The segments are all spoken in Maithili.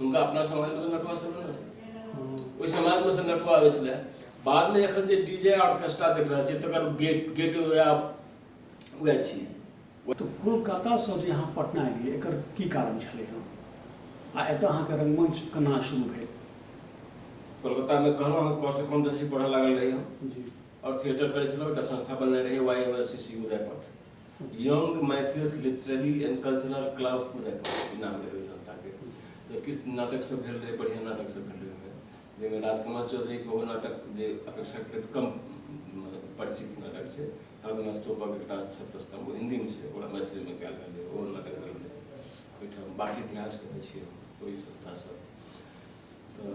हुनका अपना समाज में तो नटुआ सब ना हम्म। ओहि समाज में से नटुआ आवे छले बाद में एखन जे डीजे ऑर्केस्ट्रा देख रहल छी तकर gate gateway of way छी तो कोलकाता से जे अहाँ पटना एलियै एकर की कारण छलै हँ आ एतऽ अहाँके रंगमंच केना शुरू भेल कोलकाता में कहलहुँ हम कॉस्ट अकाउंटेंसी पढ़ऽ लागल रही हम जी और थिएटर करै छलहुँ एकटा संस्था बनने रही Y M S C C Udaypath young Maithils literary and cultural club नाम रहै ओहि संस्थाके तऽ किछु नाटक सब भेल रहै बढ़िआँ नाटक सब भेल रहै जाहिमे राजकुमार चौधरीके बहु नाटक जे अपेक्षाकृत कम परिचित नाटक छै हरगुना स्तूपक एकटा छत्रस्तंभ ओ हिन्दीमे छै ओकरा मैथिलीमे कयल गेल रहै ओ नाटक भेल रहै ओहिठाम बाकी इतिहास कहै छियै ओहि संस्थासँ तऽ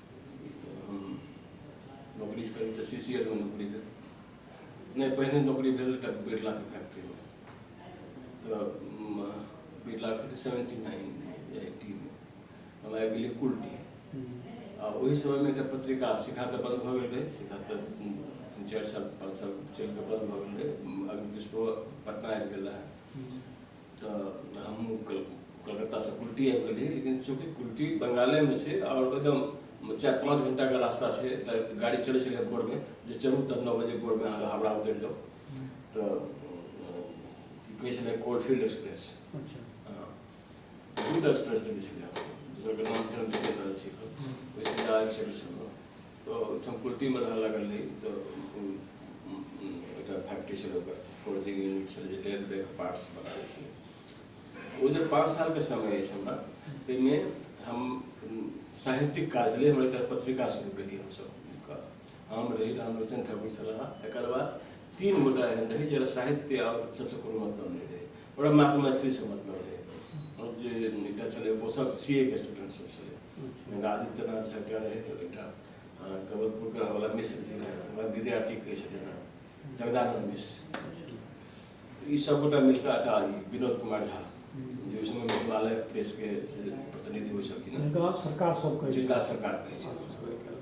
हम नौकरी करी तऽ सी सी एल मे नौकरी भेल नहि पहिने नौकरी भेल एकटा बिरलाके फैक्ट्रीमे तऽ बिरला फैक्ट्री सेवेंटी नाइन एटीमे हम आबि गेलियै कुल्टी आ ओहि समयमे एकटा पत्रिका शिखा तऽ बन्द भऽ गेल रहै शिखा तऽ तीन चारि साल पाँच साल चलि कऽ बन्द भऽ गेल रहै अग्नि पुष्पो पटना आबि गेल रहै तऽ हम कलकत्तासँ कुल्टी आबि गेलियै लेकिन चूँकि कुल्टी बंगालेमे छै आओर एकदम चारि पाँच घंटाके रास्ता छै गाड़ी चलै छलै भोरमे जे चलू तब नओ बजे भोरमे अहाँके हावड़ा उतरि जाउ तऽ की कहै छलै कोलफील्ड एक्सप्रेस अच्छा। हँ दूध एक्सप्रेस चलै छलै दोसरके नाम फेर बिसरि रहल छी ओहिसँ आबि सकै छलहुँ संस्कृतिमे रहऽ लागल रही तऽ एकटा फैक्ट्री छल ओकर फोर्जिंग यूनिट छल जे डेढ़ डेढ़ पार्ट्स बनाबै छलै ओ जे पाँच सालके समय अछि हमरा ताहिमे हम साहित्यिक काज भेलै हम एकटा पत्रिका शुरू केलियै हमसभ मिलकऽ हम रही रामलोचन ठाकुर छलाह एकर बाद तीन गोटा एहन रहै जकरा साहित्य आओर सभसँ कोनो मतलब नहि रहै ओकरा मात्र मैथिली से मतलब रहै हम जे एकटा छलै ओ सब सी ए के स्टूडेंट सब छलै आदित्यनाथ झा एकटा रहै एकटा कबलपुरके रहवला मिश्र जी रहै हमरा विद्यार्थी कहै छथिन हँ जगदानंद मिश्र ई सब गोटा मिलकर एकटा विनोद कुमार झा जे ओहि समय हिमालय प्रेसके प्रतिनिधि होइ छलखिन जिनका सरकार सब कहै जिनका सरकार कहै छलखिन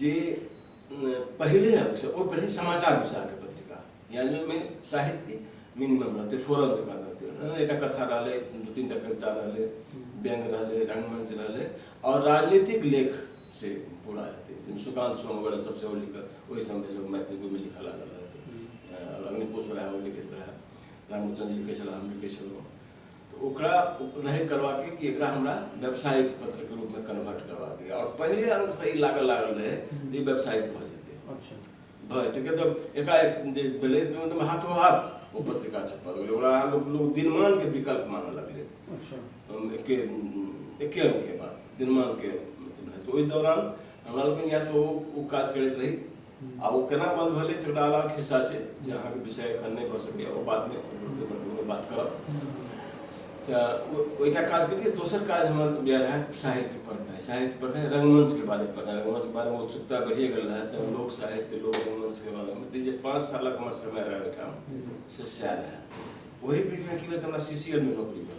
जे पहिले से ओ पहिले समाचार विचार के पत्रिका यानी में साहित्य मिनिमम रहते फोरम जका रहते एक कथा रहले दू तीन टा कविता रहले व्यंग रहले रंगमंच रहले और राजनीतिक लेख से पूरा हेतै सुकांत सोम वगैरह सब सेहो लिखल ओहि समय सब मैथिली में लिखल लागल रहते अग्निकोश रहा ओ लिखित रहा रामचंद्र लिखे छला हम लिखे छलहुँ तऽ ओकरा नहि करबाक अइ कि एकरा हमरा व्यावसायिक पत्रके रूपमे कन्वर्ट करबाक अइ आओर पहिले अङ्गसँ ई लागऽ लागल रहै जे ई व्यावसायिक भऽ जेतै अच्छा भऽ जेतै किएक तऽ एकाएक जे भेलै तऽ मतलब हाथो हाथ ओ पत्रिका छपा गेलै ओकरा अहाँ लोक लोक दिनमानके विकल्प मानऽ लगलै अच्छा हम एके एके अङ्गके बात दिनमानके मतलब रहै तऽ ओहि दौरान हमरा लोकनि या तऽ ओ ओ काज करैत रही आ ओ केना बंद भेलै तऽ एकटा अलग खिस्सा छै जे अहाँके विषय एखन नहि भऽ सकैए ओ बादमे ओहिमे बात करब तऽ ओहिटा काज करियै दोसर काज हमर यह रहए साहित्य पढ़नाइ साहित्य पढ़नाइ रंगमंचके बारे पढ़नाइ रंगमंचके बारेमे उत्सुकता बढ़िए गेल रहए तऽ लोक साहित्य लोक रंगमंचके बारेमे तऽ जे पाँच सालक हमर समय रहए ओहिठाम से सएह रहए ओहि बीचमे की भेल तऽ हमरा सी सी एलमे नौकरी भेल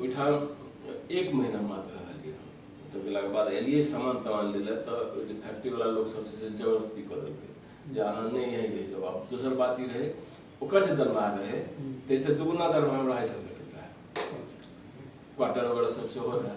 ओहिठाम एक महीना मात्र रहलियै हम तऽ गेलाके बाद एलियै सामान तामान लै लए तऽ ओहि जे फैक्ट्रीवला लोक सब छै से जबरदस्ती कऽ देलकै जे अहाँ नहि यहीं रहि जाउ आब दोसर बात ई रहै ओकर जे दरमाहा रहै ताहिसँ दुगुना दरमाहा हमरा एहिठाम भेटैत रहए क्वार्टर वगैरह सब सेहो रहए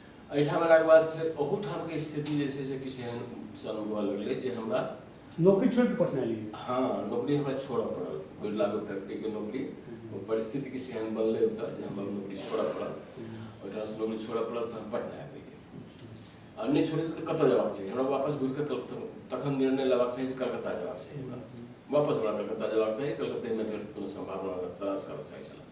एहिठाम अयलाके बाद फेर ओहूठामके स्थिति जे छै से किछु एहन सन हुअ लगलै जे हमरा नौकरी छोड़ि कऽ पटना एलियै हँ नौकरी हमरा छोड़य पड़ल बिरलागो फैक्ट्रीके नौकरी ओ परिस्थिति किछु एहन बनलै ओतऽ जे हमरा नौकरी छोड़य पड़ल ओहिठामसँ नौकरी छोड़य पड़ल तऽ हम पटना आबि गेलियै आ नहि छोड़ि कऽ तऽ कतऽ जयबाक चाही हमरा वापस घुरि कऽ कल- त- तखन निर्णय लेबाक चाही जे कलकत्ता जयबाक चाही हमरा वापस हमरा कलकत्ता जयबाक चाही कलकत्तेमे फेर कोनो सम्भावना तलाश करबाक चाही छलए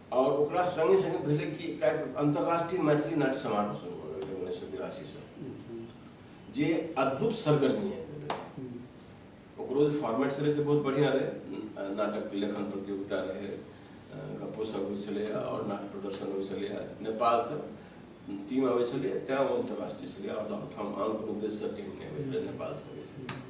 आओर ओकरा सङ्गे सङ्गे भेलै कि अन्तर्राष्ट्रीय मैथिली नाट्य समारोह शुरू भऽ गेलै उन्नैस सए बिरासीसँ जे अद्भुत सरगर्मी है ओकरो जे फॉर्मेट छलै से बहुत बढ़िआँ रहै नाटक लेखन प्रतियोगिता रहै गप्पो सब होइ छलै आओर नाट्य प्रदर्शन होइ छलै नेपालसँ टीम अबै छलै तैँ ओ अन्तर्राष्ट्रीय छलै आओर ठाम आन कोनो देशसँ टीम नहि अबै छलै नेपालसँ अबै छलै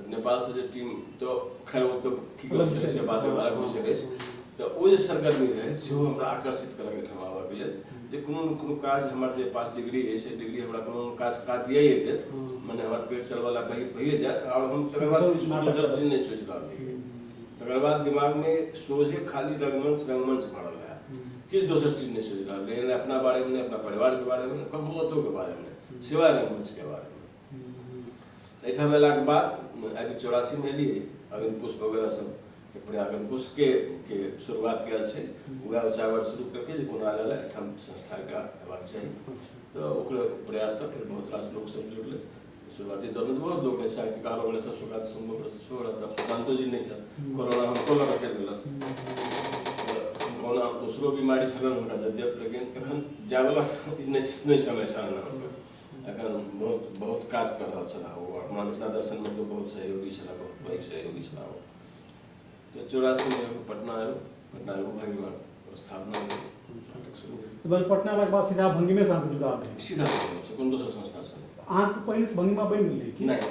नेपालसँ जे टीम तऽ खैर ओ तऽ की कहै छै से बात अलग विषय अछि तऽ ओ जे सरगर्मी रहै सेहो हमरा आकर्षित कयलक एहिठाम आबयके लेल जे कोनो ने कोनो काज हमर जे पास डिग्री अछि से डिग्री हमरा कोनो काज काज दिए देत मने हमर पेट चलवला कहीं भइए जायत आओर हम तकर बाद किछु दोसर चीज नहि सोचि रहल रहियै तकर बाद दिमागमे सोझे खाली रंगमंच रंगमंच भऽ रहल रहए किछु दोसर चीज नहि सोचि रहल रहियै नहि अपना बारेमे नहि अपना परिवारके बारेमे नहि ककरो कतहुके बारेमे नहि सिवाय रंगमंचके बारेमे एहिठाम अयलाके बाद आबि चौरासीमे एलियै अग्नि पुष्प वगैरह सब के प्रयाग अग्नि पुष्पके के शुरुआत कयल छै उएह उचावर शुरू करके जे कोना लए एहिठाम संस्थाके हेबाक चाही तऽ ओकर प्रयाससँ फेर बहुत रास लोक सब जुड़लै शुरुआती दौरमे बहुत लोक रहै साहित्यकार वगैरह सब सुकांत संभव सेहो रहै तब सुकांतो जी नहि छथि कोरोना हमको लऽ कऽ चलि गेलक कोरोना दोसरो बीमारी छलनि हुनका जद्यप लेकिन एखन जायवला नहि समय छलनि एखन बहुत बहुत काज कर रहल छलाह ओ अपना मिथिला दर्शनमे तऽ बहुत सहयोगी छलाह बहुत पैघ सहयोगी छलाह ओ तऽ चौरासीमे पटना आयल पटना आयल भंगीमे स्थापना भेल पटना अयलाके बाद सीधा भंगीमे साथ जुड़ा सीधा कोनो दोसर संस्था अहाँके पहिलेसँ भंगीमा बनि गेलै कि नहि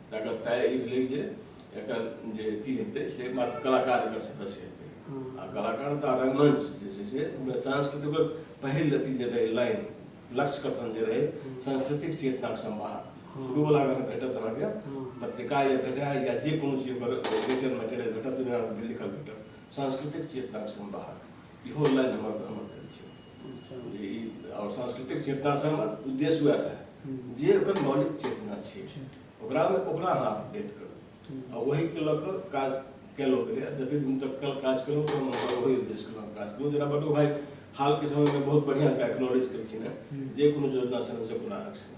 तकर तय ई भेलै जे एकर जे अथी हेतै से मात्र कलाकार एकर सदस्य हेतै आ कलाकार तऽ रंगमंच जे छै से सांस्कृतिक पहिल अथी जे रहै लाइन लक्ष्य कथन जे रहै सांस्कृतिक चेतनाक संवाह शुरूवला अगर भेटत अहाँके पत्रिका या भेटाय या जे कोनो चीज ओकर रिटर्न मटेरियल भेटत दुनिया लिखल भेटत सांस्कृतिक चेतनाक संवाहक इहो लाइन हमर हमर आओर सांस्कृतिक चेतनासँ हमर उद्देश्य वएह रहै जे ओकर मौलिक चेतना छै ओकरामे ओकरा अहाँ अपडेट करू आ ओहिके लऽ कऽ काज कयलहुँ गेलै जतेक दिन तक कल काज कयलहुँ तऽ हम ओहि उद्देश्यके लऽ काज कयलहुँ जेना बड्डू भाइ हालके समयमे बहुत बढ़िआँ एकरा एक्नोलेज केलखिन हेँ जे कोनो योजना छनि से पुनः रक्षण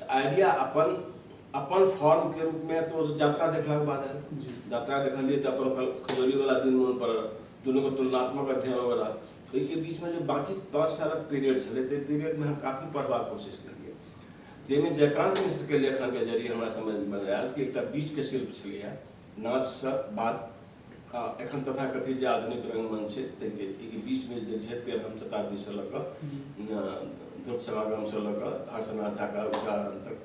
तऽ आइडिया अपन अपन फॉर्मके रूपमे तऽ ओ यात्रा देखलाके बाद आयल जी। यात्रा देखलियै तऽ अपन खल- खजौलीवला दिन मोन पड़ल दुनूके तुलनात्मक अध्ययन वगैरह तऽ ओहिके बीचमे जे बाकी पाँच सालक पीरियड छलै ताहि पीरियडमे हम काफी पढ़बाक कोशिश केलियै जाहिमे जयकान्त मिश्रके लेखनके जरिए हमरा समझमे आयल कि एकटा बीजके शिल्प छलैए नाचसँ बाद एखन तथाकथित जे आधुनिक रङ्गमञ्च छै ताहिके एहिके बीचमे जे छै तेरहम शताब्दीसँ लऽ कऽ ध्रुप सभागमसँ लऽ कऽ हर्षनाथ झाका उच्चारण तक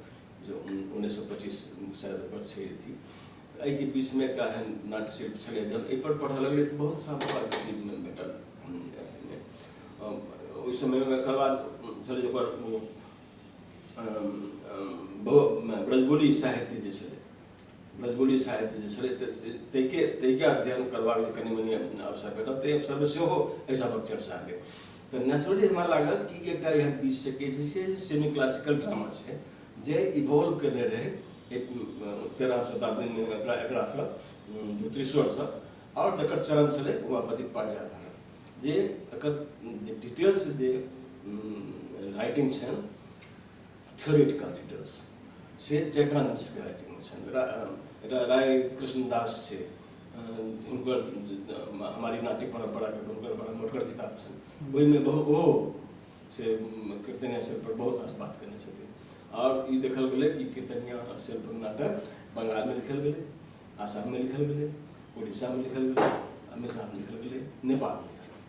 जे उन्नैस सए पच्चीस शायद ओकर छै अथी एहिके बीचमे एकटा एहन नाट्य शिल्प छलै जब एहिपर पढ़ऽ लगलै तऽ बहुत सारा प्रकारके भेटल ओहि समयमे एकर बाद छलै ओकर ब्रजबोली साहित्य जे छलै मधुबनी साहित्य जे छलै ताहिके ताहिके अध्ययन करबाक जे कनि मनि अवसर भेटल ताहि अवसरमे सेहो एहि सभक चर्चा भेल तऽ नेचुरली हमरा लागल कि एकटा एहन बीच से कहै छै जे सेमी क्लासिकल ड्रामा छै जे इवॉल्व केने रहै तेरह सौ शताब्दीमे एकरा एकरासँ ज्योतिश्वरसँ आओर जकर चरण छलै उमापति पारिजातन जे एकर डिटेल्स जे राइटिंग छनि थ्योरिटिकल लिडर्स से जकरा हमसभके राइटिंगमे छनि रा, राय कृष्णदास छै हुनकर हमारी नाट्य परम्पराके हुनकर बड़ा मोटगर किताब छनि ओहिमे बहुत ओहो से कीर्तनिया शिल्पपर बहुत रास बात कयने छथिन आओर ई देखल गेलै कि कीर्तनिया शिल्प नाटक बंगालमे लिखल गेलै आसाममे लिखल गेलै उड़ीसामे लिखल गेलै अमेरिकामे लिखल गेलै नेपालमे लिखल गेलै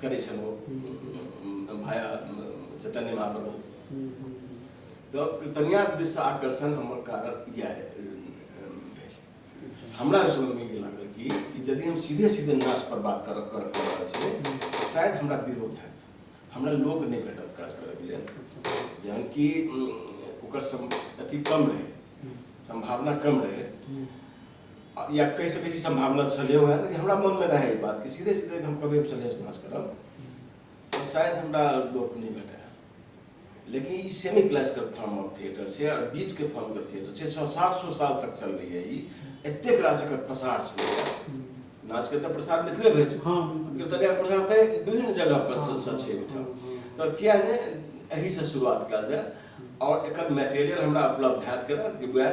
करै छलहुँ भाया चैतन्य महाप्रभु तऽ कीर्तनिया दिस आकर्षण हमर कारण इएह हमरा ओहि समयमे ई लागल कि यदि हम सीधे सीधे नाच पर बात कर कर कर रहल छियै तऽ शायद हमरा विरोध हैत हमरा लोक नहि भेटत काज करैके लेल जहन कि ओकर अथी कम रहै सम्भावना कम रहै या कहि सकै छी सम्भावना छलै वएह कि हमरा मनमे रहै ई बात कि सीधे सीधे हम कभी सन्यास नाश करब तऽ शायद हमरा लोक नहि भेटै लेकिन ई semi classical form of theatre छै आओर बीचके फॉर्मके थिएटर छै छओ सात सौ साल तक चललैए ई एतेक रास एकर प्रसार छलैए नाचके तऽ प्रसार मिथिले भेल छै हँ। कीर्तनिया प्रसार तऽ विभिन्न जगह पर स- स- छै एहिठाम तऽ किया ने एहिसँ शुरुआत कयल जाय आओर एकर मटेरियल हमरा उपलब्ध हैत केना कि वएह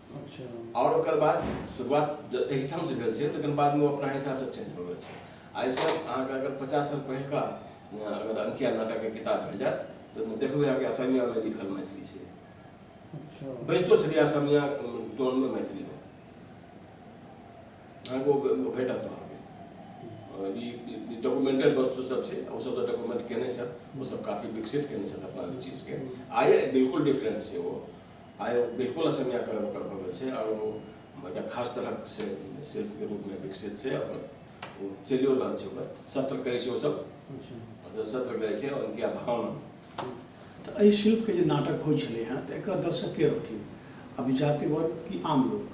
अच्छा आओर ओकर बाद शुरुआत एहिठामसँ भेल छै लेकिन बादमे ओ अपना हिसाबसँ चेंज भऽ गेल छै एहिसँ अहाँके अगर पचास साल पहिलका अगर अंकिया नाटकके किताब भेट जायत तऽ ओहिमे देखबै अहाँके असमियामे लिखल मैथिली छै अच्छा बैजतो छलियै असमिया टोनमे मैथिलीमे अहाँके ओ भेटत अहाँ डॉक्यूमेंटेड वस्तु सब छै ओ सब डॉक्यूमेंट केने छथि ओ सब काफी विकसित केने छथि अपना चीज के आय बिल्कुल डिफरेंट छै ओ आइ ओ बिल्कुल असमिया कलम ओकर भऽ गेल छै आओर ओ एकटा खास तरहक से शिल्पके रूपमे विकसित छै आओर ओ चलिओ रहल छै ओकर सत्र कहै छै ओसभ मतलब सत्र कहै छै आओर उनके भावना तऽ एहि शिल्पके जे नाटक होइ छलै हेँ तऽ एकर दर्शक के रहथिन अभिजातिवर्ग कि आम लोक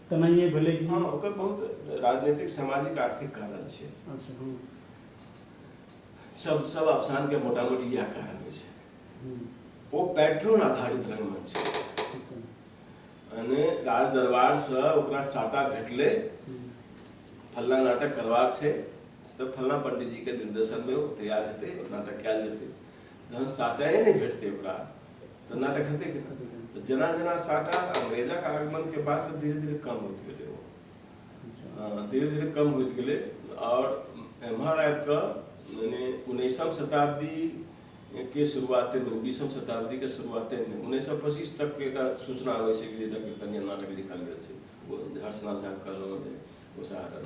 तेनाहिए भेलै कि हँ ओकर बहुत राजनीतिक सामाजिक आर्थिक कारण छै अच्छा हँ सब सब अफसानके मोटा मोटी इएह कारण होइ छै हूँ, ओ पैट्रोन आधारित रंगमंच छै अच्छा, यानी राज दरबारसँ ओकरा साटा भेटलै हूँ, फल्ला नाटक करबाक छै तऽ फल्ला पंडितजीके निर्देशनमे ओ तैयार हेतै ओ नाटक कयल जेतै जहन साटाए नहि भेटतै ओकरा तऽ नाटक हेतै कि तऽ जेना जेना साटा अंग्रेजा के आगमन के बाद से धीरे धीरे कम होत गेलै ओ अच्छा। धीरे धीरे कम होत गेलै आओर एम्हर आबि कऽ मने उन्नैसम शताब्दी के शुरुआते में बीसम शताब्दी के शुरुआते में उन्नैस सए पच्चीस तक के एकटा सूचना अबै छै कि डॉक्टर कन्या नाटक लिखल गेल छै ओ हर्षनाथ झा कहलहुँ जे ओ साहर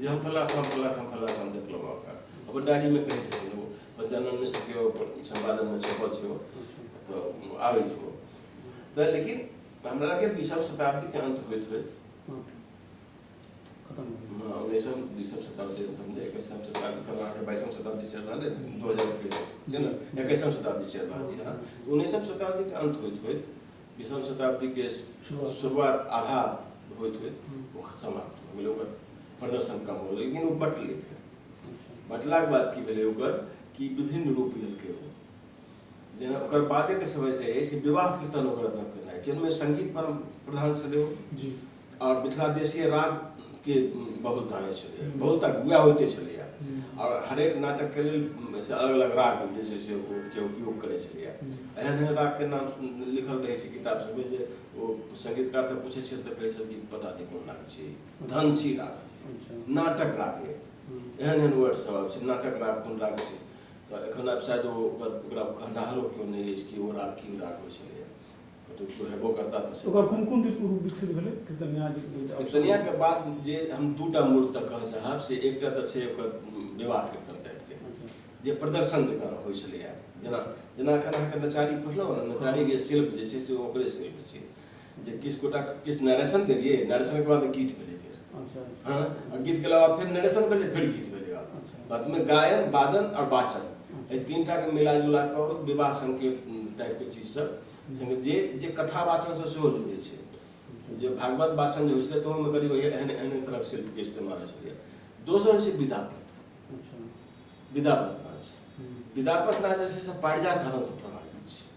जे हम फला ठाम फला ठाम फला ठाम देखलहुँ अहाँके अपन डायरीमे कहै छथिन ओ पञ्चानन मिश्रके ओ सम्पादनमे छपल छै ओ तऽ आबै छै ओ तऽ लेकिन हमरा लगे बीसम शताब्दीके अन्त होइत होइत उन्नैसम बीसम शताब्दी समझे एकैसम शताब्दी कब अहाँके बाइसम शताब्दी चलि रहल है दू हजार एकैस छै ने एकैसम शताब्दी चलि रहल छै अहाँ उन्नैसम शताब्दीके अन्त होइत होइत बीसम शताब्दी के शुरुआत आधा होइत हुए वो समाप्त हो गेलै ओकर प्रदर्शन कम हो लेकिन वो बटलै बटला के बाद की भेलै ओकर कि विभिन्न रूप लेलकै ओ जेना ओकर बादे के समय से अछि विवाह कीर्तन ओकर अथक केनाइ कि ओहिमे संगीत पर प्रधान छलै ओ जी आओर मिथिला देशीय रागके बहुलता रहै छलैए बहुलता उएह होइते छलैए आओर हरेक नाटकके लेल से अलग अलग राग जे छै से ओके उपयोग करै छलैए एहन एहन रागके नाम लिखल रहै छै किताब सभमे जे ओ सङ्गीतकार तऽ पूछै छै तऽ कहै छै कि पता नहि कोन राग छी धन छी राग अच्छा। नाटक राग एहन एहन वर्ड सभ आबै छै नाटक राग कोन राग छी तऽ एखन आब शायद ओकरा कहनाहरो केओ नहि अछि कि ओ राग की राग होइ छलैए ओकर कोन कोन रूप विकसित भेलै कीर्तनिया कीर्तनिया के बाद जे हम दूटा मूल तक कह चाहब से एकटा तऽ छै ओकर विवाह कीर्तन टाइप के अच्छा। जे प्रदर्शन जकाँ होइ छलैए जेना जेना एखन अहाँके नचारी पढ़लहुँ ने नचारी जे शिल्प जे छै से ओकरे शिल्प छै जे किछु गोटा किछु नरेशन देलियै नरेशन के बाद गीत भेलै फेर अच्छा। हँ गीत के अलावा फेर नरेशन भेलै फेर गीत भेलै अच्छा। बाद में गायन वादन और वाचन एहि तीन टाके मिला जुला कऽ विवाह संकेत टाइपके चीज सब संगे जे जे कथा वाचनसँ सेहो जुड़ै छै जे भागवत वाचन जे होइ छलै तऽ ओहिमे करीब एहन एहन तरहक शिल्पके इस्तेमाल होइ छलै दोसर होइ छै विदापत अच्छा। विदापत नाच विदापत नाच जे छै से पारिजात हरणसँ प्रभावित छै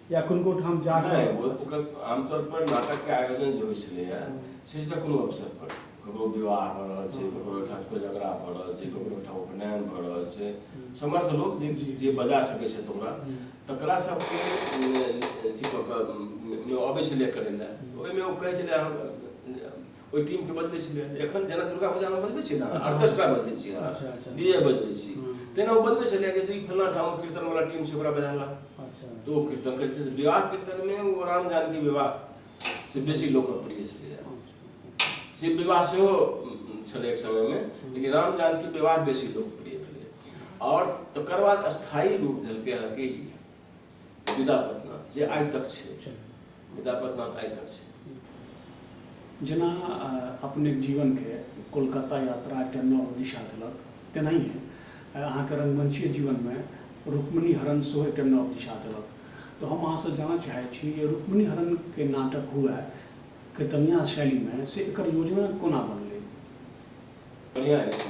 या किनको ठाम जा कऽ ओकर आमतौर पर नाटक के आयोजन जे होइ छलैया से छलै कोनो अवसर पर ककरो विवाह भऽ रहल छै ककरो ओहिठाम कोइ झगड़ा भऽ रहल छै ककरो ओहिठाम उपनयन भऽ रहल छै समर्थ लोक जे जे बजा सकै छथि ओकरा तकरा सबके अथी कऽ कऽ अबै छलै करै लए ओहिमे ओ कहै छलै ओहि टीम के बदलै छलै एखन जेना दुर्गा पूजा में बदलै छी ने अच्छा। ऑर्केस्ट्रा बदलै छी अहाँ अच्छा, अच्छा। डीजे बदलै छी हम्म। तेना ओ बदलै छलै कि ई फलना ठाम कीर्तन वाला टीम छै ओकरा बजाना अच्छा तो ओ कीर्तन करै छलै विवाह कीर्तन में ओ राम जानकी विवाह से बेसी लोकप्रिय छलैए से विवाह सेहो उम, छलै एक समय में लेकिन राम जानकी विवाह बेसी लोकप्रिय भेलै आओर तकर बाद स्थायी रूप देलकै अहाँके ई विदा पटना जे आइ तक छै विदा पटना आइ तक छै जेना अपने जीवनके कोलकाता यात्रा एकटा नव दिशा देलक तेनाहिए अहाँके रङ्गमंचीय जीवनमे रुक्मणी हरण सेहो एकटा नव दिशा देलक तऽ हम अहाँसँ जानऽ चाहै छी जे रुक्मणी हरणके नाटक हुए कृतनिया शैलीमे से एकर योजना कोना बनलै बढ़िआँ अछि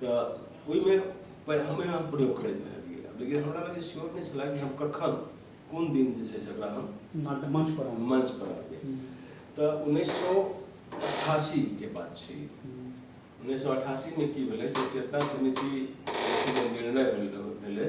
तऽ ओहिमे हमे हम प्रयोग करैत रहलियै लेकिन हमरा लगे श्योर नहि छलै कि हम कखन कोन दिन जे छै से ओकरा हम मंच पर मंच पर आबी तऽ उन्नैस सए अठासी के बात छै उन्नैस सए अठासी मे की भेलै चेतना समिति निर्णय भेलै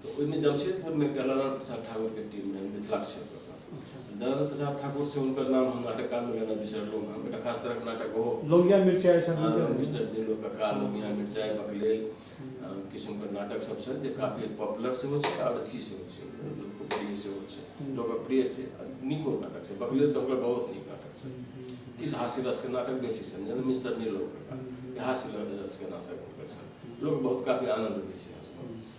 तऽ ओहिमे जमशेदपुरमे एकटा नारायण प्रसाद ठाकुरके टीम रहै मिथिला क्षेत्र नारायण प्रसाद ठाकुर से हुनकर नाम हम नाटक कालमे लेना बिसरलहुँ हँ एकटा खास तरहक नाटक ओहो लोहिया मिर्चाइ मिस्टर नीलो कका लोहिया मिर्चाइ बकलेल किसिमके नाटक सब छै जे काफी पॉपुलर सेहो छै आओर अथी सेहो छै लोकप्रिय सेहो छै लोकप्रिय छै नीको नाटक छै बकलेल तऽ ओकर बहुत नीक नाटक छै किछु हास्य रसके नाटक बेसी छनि जेना मिस्टर नीलो कका हास्य रसके नाटक हुनकर छनि लोक बहुत काफी आनन्द दै छै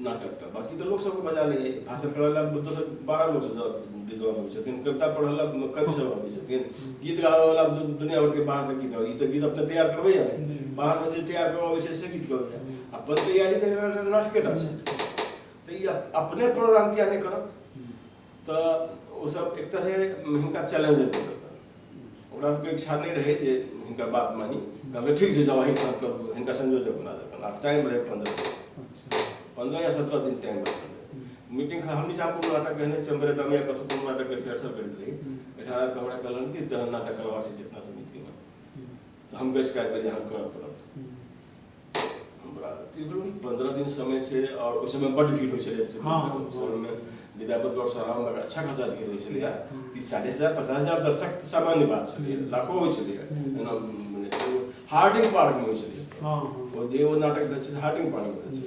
नाटकटा बाकी तऽ लोक सबके बजा लैए भाषण करऽ लए दोसर बारह लोक सब विद्वान होइ छथिन कविता पढ़ऽ लए कवि सब अबै छथिन गीत गाबऽ वाला दुनिया भर के बाहर से गीत ई तऽ गीत अपने तैयार करबै या बाहर से जे तैयार करऽ अबै छै से गीत करबै अपन तैयारी तऽ नाटकेटा छै तऽ ई अपने प्रोग्राम किया नहि करत तऽ ओ सब एक तरहे हिनका चैलेंज देते ओकरा सबके इच्छा नहीं रहे जे हिनका बात मानी कहलकै ठीक छै जाओ अहीं काम करू हिनका संयोजक बना देलकनि आ टाइम रहे पंद्रह दिन अच्छा पंद्रह या सत्रह दिन टाइम रहे मीटिंग खा हम निजाम कोनो नाटक कहने छियै हमरे डमिया कतहु कोनो नाटक के रिहर्सल करैत रही एहिठाम आबि कऽ हमरा कहलन कि तहन नाटक करबाक छै चेतना समितिमे तऽ हम बैस कऽ आबि गेलियै अहाँ करऽ पड़त पंद्रह दिन समय छै आओर ओहि समय बड्ड भीड़ होइ छलै समयमे विद्यापति गौर सरावमे अच्छा खासा भीड़ होइ छलैए तीस चालीस हजार पचास हजार दर्शक सामान्य बात छलैए लाखो होइ छलैए जेना हार्डिंग पार्कमे होइ छलैए ओ जे ओ नाटक भेल छै हार्डिंग पार्कमे भेल छै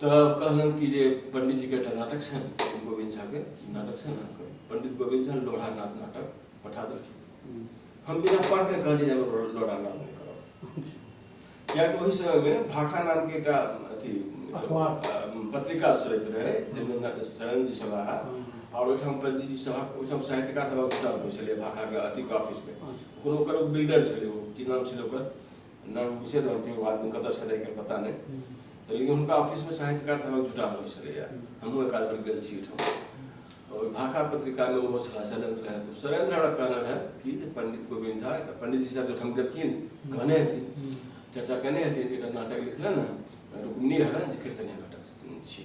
तऽ कहलनि कि जे पंडितजीके एकटा नाटक छनि गोविंद झाके नाटक छनि अहाँके पंडित गोविंद झा लोढ़ानाथ नाटक पठा देलखिन हम बिना पढ़ने कहलियै जे हमरा लोढ़ानाथ नहि करब किएकि ओहि समयमे भाखा नामके एकटा अथी पत्रिका स्रोत रहै जाहिमे शरणजी सभा आओर ओहिठाम पंडितजी सभा ओहिठाम साहित्यकार सभा जुटल होइ छलै भाखाके अथी ऑफिसमे कोनो ओकर बिल्डर छलै ओ की नाम छलै ओकर ना घुसे रहल थी वो आदमी कतऽ से रहै पता नहि तऽ लेकिन हुनका ऑफिसमे साहित्यकार सभक जुटान होइ छलैए हमहूँ एक आध बेर गेल छी ओहिठाम ओहि भाखा पत्रिकामे ओहो छलाह शैलेन्द्र रहै तऽ शैलेन्द्र हमरा कहने रहथि कि जे पंडित गोविन्द झा एकटा पंडितजी साहब जखन गेलखिन कहने हेथिन चर्चा केने हेथिन जे एकटा नाटक लिखलनि हँ रुक्मिणी हरण जे कीर्तन नाटक छी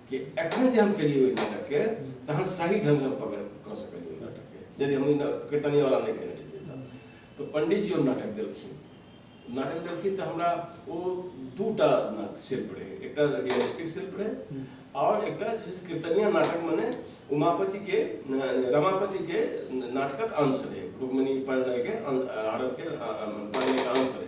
कि एखन जे हम केलियै ओहि नाटकके तहन सही ढङ्गसँ हम पकड़ कऽ सकलियै ओहि नाटकके यदि हम ई कीर्तनियावला नहि केने रहियै तऽ तऽ पण्डितजी ओ नाटक देलखिन नाटक देलखिन तऽ हमरा ओ दू टा शिल्प रहै एकटा रियलिस्टिक शिल्प रहै आओर एकटा जे छै कीर्तनिया नाटक मने उमापतिके रमापतिके नाटकक अंश रहै रुक्मिणी परिणयके हरफके परिणयके अंश रहै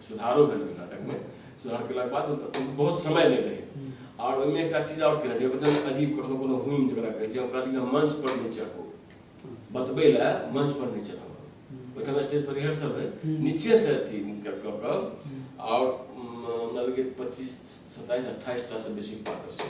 सुधारो भेल नाटक में सुधार के बाद बहुत समय नहीं रहे हम्म। और ओहिमे एक चीज और केलक बदल अजीब कखनो कोनो हुम जरा कहै छै ओकरा लिए मंच पर नहीं चढ़ो हम्म। बतबे ला मंच पर नहीं चढ़ो हम्म। ओहिठाम स्टेज पर रिहर्सल है नीचे से अथी कऽ कऽ आओर हमरा लगे पच्चीस सत्ताइस अट्ठाइस टा से बेसी पात्र छै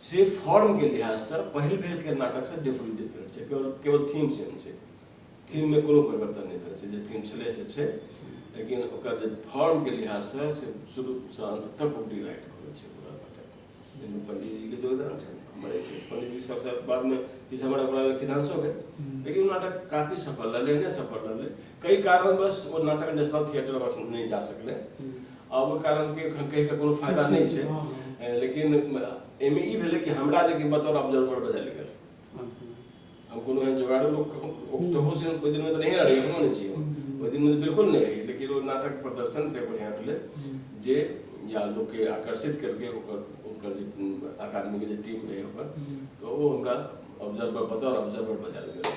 से फॉर्म के लिहाज से पहिल भेल के नाटक से डिफरेंट डिफरेंट छै केवल केवल थीम सेम छै थीम में कोनो परिवर्तन नहीं भेल छै जे थीम छलै से छै लेकिन ओकर जे फॉर्म के लिहाज से से शुरू से अंत तक ओ डिलाइट करै छै पूरा नाटक जाहिमे पंडित जी के योगदान छै हमर छै पंडित जी सबसे बाद में किछु हमरा ओकरा खिदांशो भेल लेकिन नाटक काफी सफल रहलै नहि सफल रहलै कई कारणवश ओ नाटक नेशनल थिएटर वर्ष नहीं जा सकले आ वो कारण के एखन कहि के कोनो फायदा नहीं छै ए, लेकिन एमे ई भेलै कि हमरा जे कि बतौर ऑब्जर्वर बजायल गेल हम कोनो एहन जोगाड़ो लोक ओहो से ओहि दिन में तो नहीं रही एखनो नहीं छी हम। ओहि दिन में तो बिल्कुल नहीं रही लेकिन वो नाटक प्रदर्शन ते बढ़िया भेलै जे या लोग के आकर्षित करके ओकर ओकर जे अकादमी के जे टीम रहे ओकर तो वो हमरा ऑब्जर्वर बतौर ऑब्जर्वर बजायल गेल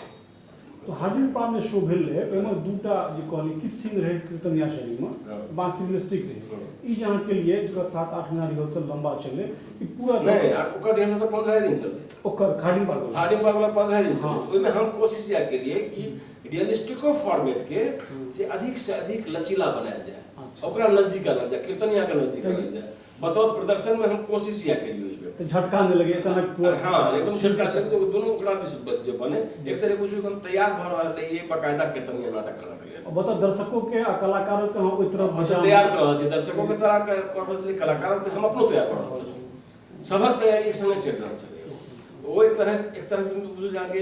तो हार्डिंग पाम जे शो भेल रहै ओहिमे दूटा जे कहलियै किछु सीन रहै कीर्तन या शरीरमे हाँ। बाकी रियलिस्टिक रहै हाँ। ई जे अहाँ केलियै जकरा सात आठ महीना रिहर्सल लंबा चललै ई पूरा नहीं यार ओकर रिहर्सल तो पंद्रह दिन चलते ओकर हार्डिंग पाम वाला हार्डिंग पाम वाला पंद्रह दिन हाँ। चलते ओहिमे हम कोशिश यह केलियै कि रियलिस्टिको फॉर्मेट के हाँ। से अधिक से अधिक लचीला बनायल जाए अच्छा। ओकरा नजदीक आनल जाए कीर्तनिया के नजदीक आनल जाए बतौर प्रदर्शन में हम कोशिश या करियो इस बेर तो झटका न लगे अचानक तो हां एकदम झटका दे तो दोनों ओकरा दिस जो बने एक तरह बुझियो हम तैयार भ रहल रही ये बकायदा कीर्तन या नाटक करना के अब बता दर्शकों के आ कलाकारों के हम ओइ तरफ बचा तैयार कर रहल छी दर्शकों के तरह कर रहल छी कलाकारों के हम अपनो तैयार कर रहल छी सबक तैयारी एक संगे चल रहल छी वो एक तरह एक तरह से बुझो जाके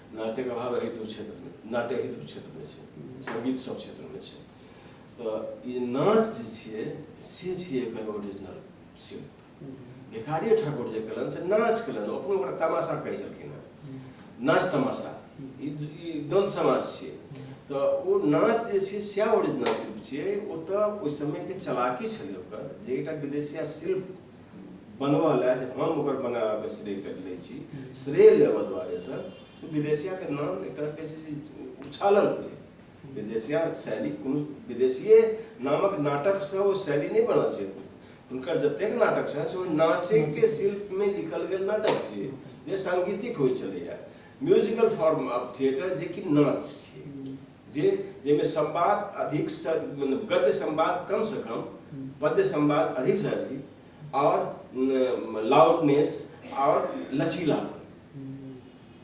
नाट्यक अभाव एहि दू क्षेत्रमे नाट्य एहि दू क्षेत्रमे छै सङ्गीत सब क्षेत्रमे छै तऽ ई नाच जे छियै से छियै एकर ओरिजिनल शिल्प भिखारी ठाकुर जे कलन से नाच कलन अपनो ओकरा तमाशा कहै छलखिन हेँ नाच तमाशा ई ई द्वन्द्व समाज छियै तऽ ओ नाच जे छै सएह ओरिजिनल शिल्प छियै ओतऽ ओहि समयके चलाकी छलै ओकर जे एकटा विदेशिया शिल्प बनवा लाए जे हम ओकर बनाबैमे श्रेय करि लै छी श्रेय लेबऽ दुआरेसँ विदेशियाके नाम एकटा कहै छै जे उछालल होइए विदेशिया शैली कोनो विदेशिए नामक नाटकसँ ओ शैली नहि बनल छै हुनकर जतेक नाटक छनि से ओ नाचैके शिल्पमे लिखल गेल नाटक छियै जे साङ्गीतिक होइ छलैए म्यूजिकल फॉर्म ऑफ थिएटर जेकि नाच छियै जे जाहिमे संवाद अधिक स मतलब गद्य संवाद कम से कम पद्य संवाद अधिक से अधिक और लाउडनेस और लचीलापन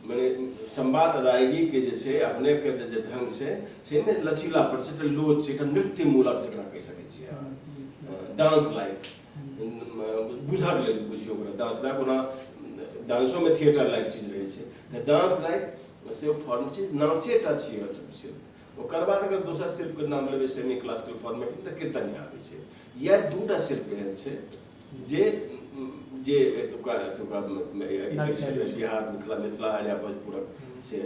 मैंने संवाद अदायगी के जैसे अपने के जे ढंग से से में लचीलापन से एकटा लोच छै एकटा नृत्य मूलक जकरा कहि सकै छियै अहाँ डांस लाइक बुझक लेल बुझियौ ओकरा डांस लाइक ओना डांसो में थिएटर लाइक चीज रहै छै तऽ डांस लाइक से फॉर्म छै नाचे टा छियै मतलब सिर्फ ओकर बाद अगर दोसर शिल्पके नाम लेबै सेमी क्लासिकल फॉर्मेटमे तऽ कीर्तनिया आबै छै इएह दूटा शिल्प एहन छै जे जे एतुका एतुका बिहार मिथिला मिथिला या भोजपुरक से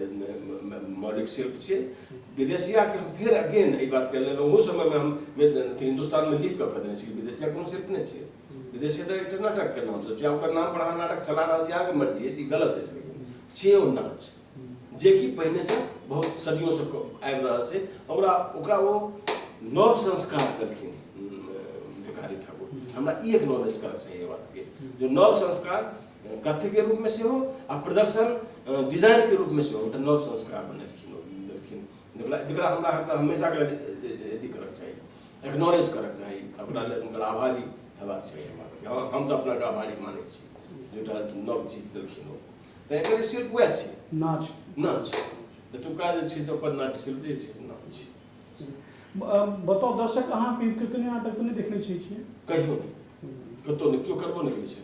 मौलिक शिल्प छै विदेशियाके हम फेर अगेन एहि बातके लेल ओहो समयमे हम हिन्दुस्तानमे लिखि कऽ कऽ देने छी विदेशिया कोनो शिल्प नहि छै विदेशी तो एक नाटक के नाम से आपका नाम पर नाटक चला रहा है आगे मर्जी है गलत है लेकिन छे और नाच जे कि पहले से बहुत सदियों से आबि रहा है ओकरा ओकरा वो नव संस्कार करखिन भिखारी ठाकुर हमरा ई एक्नॉलेज करऽ चाहिए बात के जो नव संस्कार कथ्य के रूप में से हो आ प्रदर्शन डिजाइन के रूप में से हो तो नव संस्कार बनेलखिन देलखिन जकरा हमरा हमेशा के अथी करऽ चाहिए इग्नोरेंस करक चाही अपना लेल हुनकर आभारी हेबाक चाही हमरा हम तऽ अपनाके आभारी मानै छी जेटा नव चीज देलखिन ओ तऽ एकर शिल्प उएह छै नाच नाच एतुका जे छै से ओकर नाट्य शिल्प जे छै से नाच छै बताउ दर्शक अहाँ कीर्तनी नाटक तऽ नहि देखने छियै कहियो नहि कतहु नहि केओ करबो नहि करै छै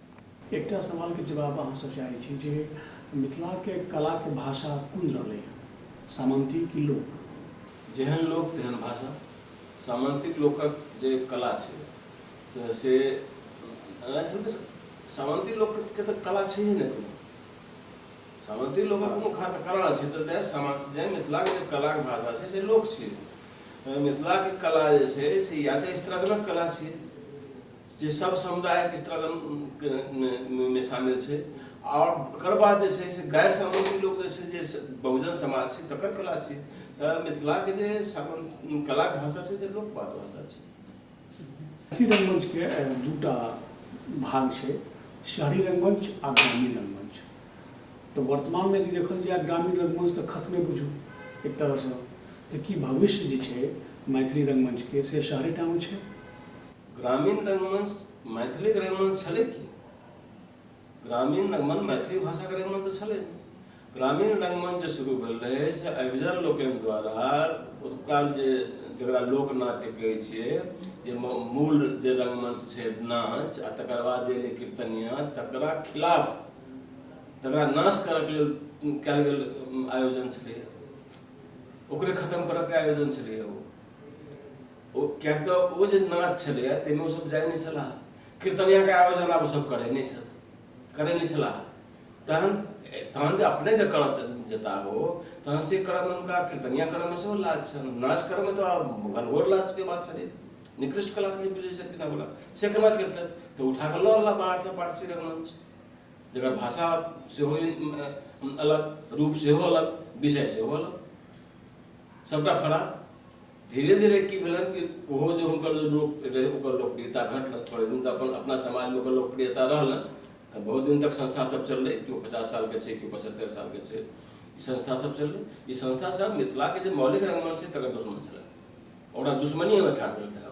एकटा सवाल के जवाब अहाँ सँ चाहै छी जे मिथिला के कला के भाषा कुन रहलै हँ, सामन्ती कि लोक? जेहन लोक तेहन भाषा। सामन्तिक लोकक जे कला छै त से सामन्ती लोक के त कला छैहे ने कोनो। सामन्ती लोकक कोनो खास कला नै छै त तै सामन्ती मिथिला के जे कला के भाषा छै से लोक छियै। मिथिला के कला जे छै से या त स्त्रगणक कला छियै। जे सब समुदायक स्त्रागणमे शामिल छै आओर ओकर बाद जे छै से गैर सामान्य लोक जे छै जे बहुजन समाज छै तकर कला छै तऽ मिथिलाके जे कलाक भाषा छै जे लोकपात भाषा छै मैथिली रङ्गमञ्चके दूटा भाग छै शहरी रङ्गमञ्च आ ग्रामीण रङ्गमञ्च तऽ वर्तमानमे यदि देखल जाय ग्रामीण रङ्गमञ्च तऽ खतमे बुझू एक तरहसँ तऽ की भविष्य जे छै मैथिली रङ्गमञ्चके से शहरेटामे छै ग्रामीण रंगमंच मैथिलीक रंगमंच छलै की ग्रामीण रंगमंच मैथिली भाषाके रंगमंच तऽ छलै ग्रामीण रंगमंच जे शुरू भेल रहै से अभिजन लोकनि द्वारा ओतुका जे जकरा लोकनाट्य कहै छियै जे मूल जे रंगमंच छै नाच आ तकर बाद जे एलै कीर्तनिया तकरा खिलाफ तकरा नाश करयके लेल कयल गेल आयोजन छलै ओकरे खतम करयके आयोजन छलै ओ ओ किएक तऽ ओ जे नाच छलैए ताहिमे ओसभ जाइ नहि छलाह कीर्तनियाके आयोजन आब ओसभ करै नहि छथि करै नहि छलाह तहन तहन जे अपने जे करऽ जेता ओ तहन से करऽमे हुनका कीर्तनिया करऽमे सेहो लाज छनि नाच करऽमे तऽ घनघोर लाजके बात छलै निकृष्ट कलाके बुझै छथिन अपना से केना करतथि तऽ उठा कऽ लऽ अनला बाहरसँ पारसी रंगमंच जकर भाषा सेहो अलग रूप सेहो अलग विषय सेहो अलग सभटा खराब धीरे धीरे की भेलन कि ओहो जे हुनकर जे लोक रहै ओकर लोकप्रियता घटल थोड़े दिन तऽ अपन अपना समाजमे ओकर लोकप्रियता रहलन तऽ बहुत दिन तक संस्था सब चललै केओ पचास सालके छै केओ पचहत्तरि सालके छै ई संस्था सब चललै ई संस्था सब मिथिलाके जे मौलिक रंगमञ्च छै तकर दुश्मन छलै ओकरा दुश्मनी हमे ठाढ़ भेल रहै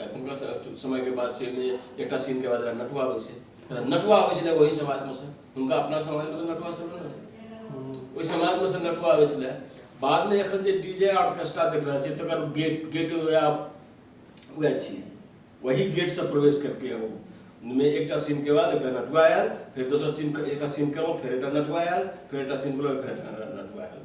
एखुनका समयके बात छै एहिमे एकटा सीनके बाद नटुआ अबै छै नटुआ अबै छलै ओहि समाजमे से हुनका अपना समाजमे तऽ नटुआ सब रहै ओहि समाजमे से नटुआ अबै छलै बादमे एखन जे डी जे ऑर्केस्ट्रा देख रहल छियै तकर गेट गेट वे ऑफ वएह छियै वही गेटसँ प्रवेश करके हम में एक सीन के बाद एक नटुआ आयल फिर दोसर सीन एक सीन करो फिर एक नटुआ आयल फिर एक सीन करो फिर नटुआ आयल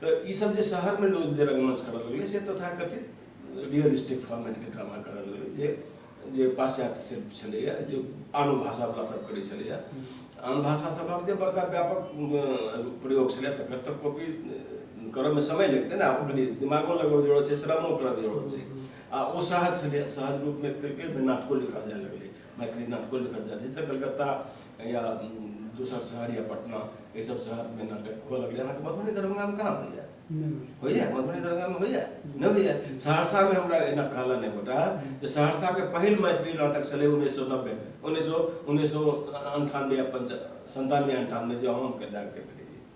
तऽ ई सब जे शहरमे लोग जे रङ्गमञ्च करऽ लगलै से तथाकथित रियल स्टेट फॉर्मेटके ड्रामा करऽ लगलै जे जे पाश्चात्य शिल्प छलैए जे आनो भाषावला सब करै छलैए आन भाषा सबक जे बड़का व्यापक प्रयोग छलै तकर तऽ कॉपी करऽमे समय लगतै ने आब कनि दिमागो लगबऽ जरूरत छै श्रमो करऽके जरूरत छै आ ओ सहज छलैए सहज रूपमे करिके नाटको लिखल जाए लगलै मैथिली नाटको लिखल जाइत छै तऽ कलकत्ता या दोसर शहर या पटना एहि सब शहरमे नाटक हुअ लगलै अहाँके मधुबनी दरभंगामे कहाँ होइए होइए मधुबनी दरभंगामे होइए नहि होइए सहरसामे हमरा एना कहलन एक गोटा जे सहरसाके पहिल मैथिली नाटक छलै उन्नैस सए नब्बे उन्नैस सए उन्नैस सए अन्ठानबे या पञ्चा सन्तानबे अन्ठानबे जे हम कए दाबि कऽ भेलै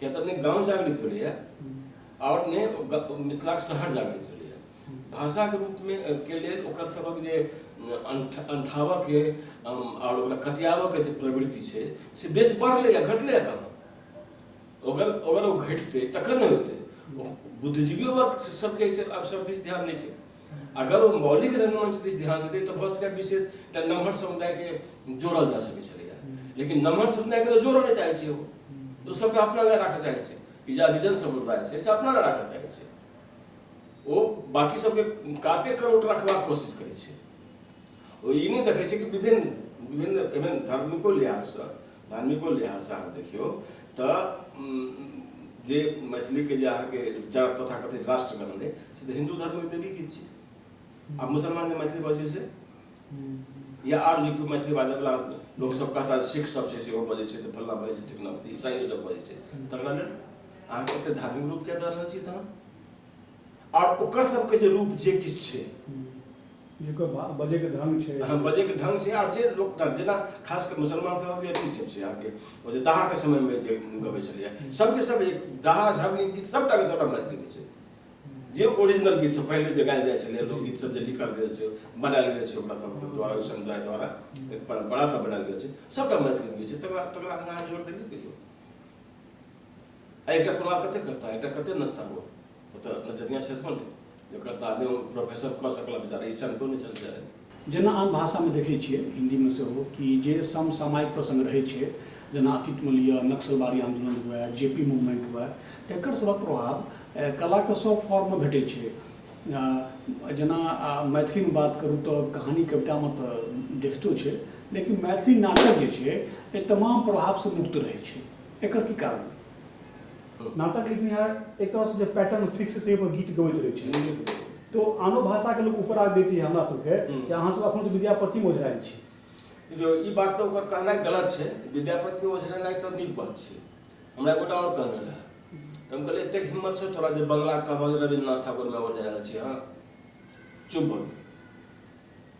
किया तऽ अपने गाँव जागृत भेलैए आओर अपने ग- मिथिलाक शहर जागृत भेलैए भाषाके रूपमे अ, के लेल ओकर सभक जे अंठ- अंठाबऽके अम, आओर ओकरा कतियाबऽके जे प्रवृत्ति छै से बेस बढ़लै या घटलै या कहाँ अगर अगर ओ घटितै तखन ने होतै बुद्धिजीवियो वर्ग सबके एहिसँ आब सब दिस ध्यान नहि छै अगर ओ मौलिक रंगमंच दिस ध्यान देते तो भऽ सकैए विशेष एकटा नमहर समुदायके जोड़ल जा सकै छलैए लेकिन नमहर समुदायके तऽ जोड़ऽ नहि चाहै छै ओ तऽ सभटा अपना लए राखऽ चाहै छै ई जे हरिजन समुदाय छै से अपना लए राखऽ चाहै छै ओ बाकी सबके काते करोट रखबाक कोशिश करै छै ओ ई नहि देखै छै कि विभिन्न विभिन्न विभिन्न धर्मिको लिहाजसँ धार्मिको लिहाजसँ अहाँ देखियौ तऽ जे मैथिलीके जे अहाँके विचार तथा कथित राष्ट्र बनलै से तऽ हिन्दू धर्मके देवी गीत छै आ मुसलमान जे मैथिली बजै छै या आर जे कोइ मैथिली बाजै वाला लोक सब कहता सिख सब छै सेहो बजै छै तऽ फल्ला बजै छै ठिकना ईसाइयो सब बजै छै तकरा लेल अहाँ कते धार्मिक रूप कए दऽ रहल छी तहन आओर ओकर सबके जे रूप जे किछु छै जेकर भा- बजैके ढंग छै अहाँ बजैके ढंग छै आओर जे लोक जेना खास कऽ मुसलमान सब जे अथी सब छै अहाँके ओ जे दाहाके समयमे जे गबै छलैए सबके सब जे दाहा झबनी गीत सबटा के सबटा मैथिली गीत छै जे ओरिजिनल गीत सब पहिले जे गायल जाइ छलै लोकगीत सब जे लिखल गेल छै बनायल गेल छै ओकरा सबके द्वारा ओहि समुदाय द्वारा एक परम्परा सब बनायल गेल छै सबटा मैथिली गीत छै तकरा तकरा अहाँ जोर देबे करियौ आ एकटा कोना कते करता एकटा कते नचता हो ओतऽ नचनिया छै थोड़े जकर तऽ आदमी प्रोफेसर कऽ सकला बेचारा ई चलतो नहि चल जाय जेना आम भाषामे देखै छियै हिन्दीमे सेहो कि जे समसामयिक प्रसङ्ग रहै छै जेना अतीतमे लिअ नक्सलबारी आन्दोलन हुए जे पी मूवमेंट हुए एकर सभक प्रभाव कलाके सभ फॉर्ममे भेटै छै जेना मैथिलीमे बात करू तऽ कहानी कवितामे तऽ देखितो छै लेकिन मैथिली नाटक जे छै एहि तमाम प्रभावसँ मुक्त रहै छै एकर की कारण नाटक लिखनिहार एक तरहसँ जे पैटर्न फिक्स ताहि पर गीत गबैत रहै छै तो आनो भाषाके लोक ऊपर आग देती है हमरा सबके कि अहाँ सब अखन विद्यापति मोझरायल छी देखियौ ई बात तऽ ओकर कहनाइ गलत छै विद्यापति मोझरेनाइ तऽ नीक बात छै हमरा एगोटा आओर कहने रहए तऽ हम कहलियै एतेक हिम्मत छै तोरा जे बंगला कहबह रविन्द्रनाथ ठाकुरमे ओझरायल छी अहाँ चुप भऽ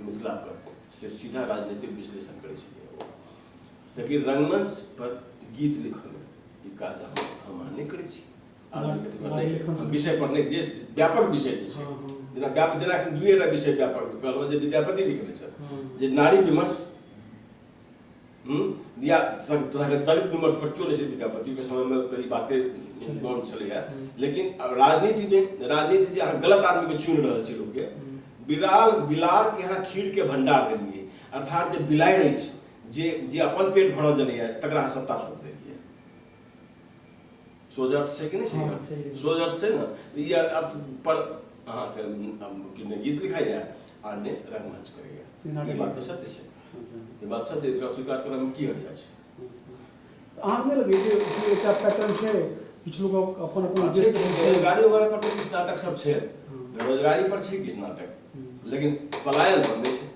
मिथिला पर से सीधा राजनीतिक विश्लेषण करे छलियै ताकि रंगमंच पर गीत लिखल ई काज हम अहाँ नहि करै छी हम विषय पर नहि जे व्यापक विषय जे छै जेना व्यापक जेना एखन दुएटा विषय व्यापक कहलहुँ जे विद्यापति लिखने छथि जे नारी विमर्श या तरहके तर्क विमर्श पर क्यों नहि छै विद्यापतिके समयमे तऽ ई बाते गौर छलैए लेकिन राजनीतिमे राजनीति जे अहाँ गलत आदमीके चुनि रहल छी लोकके बिलाल बिलारके अहाँ खीरके भंडार देलियै अर्थात जे बिलाइ रहै छै जे जे अपन पेट भरल जनैए तकरा अहाँ सत्ता सौंप देलियै सोझ अर्थ छै कि नहि छै सोझ अर्थ छै ने ई अर्थ पर अहाँके गीत लिखाइए आ नहि रंगमंच करैए ई बात तऽ सत्य छै जे बादशाह छै एकरा स्वीकार करय में की हर्जा छै अहाँ नहि लगै जे जे एकटा पैटर्न छै किछु लोक अपन अपन अच्छे उद्देश्य छै, बेरोजगारी वगैरह पर तो किछु नाटक सब छै बेरोजगारी पर छै किछु नाटक लेकिन पलायन पर नहि छै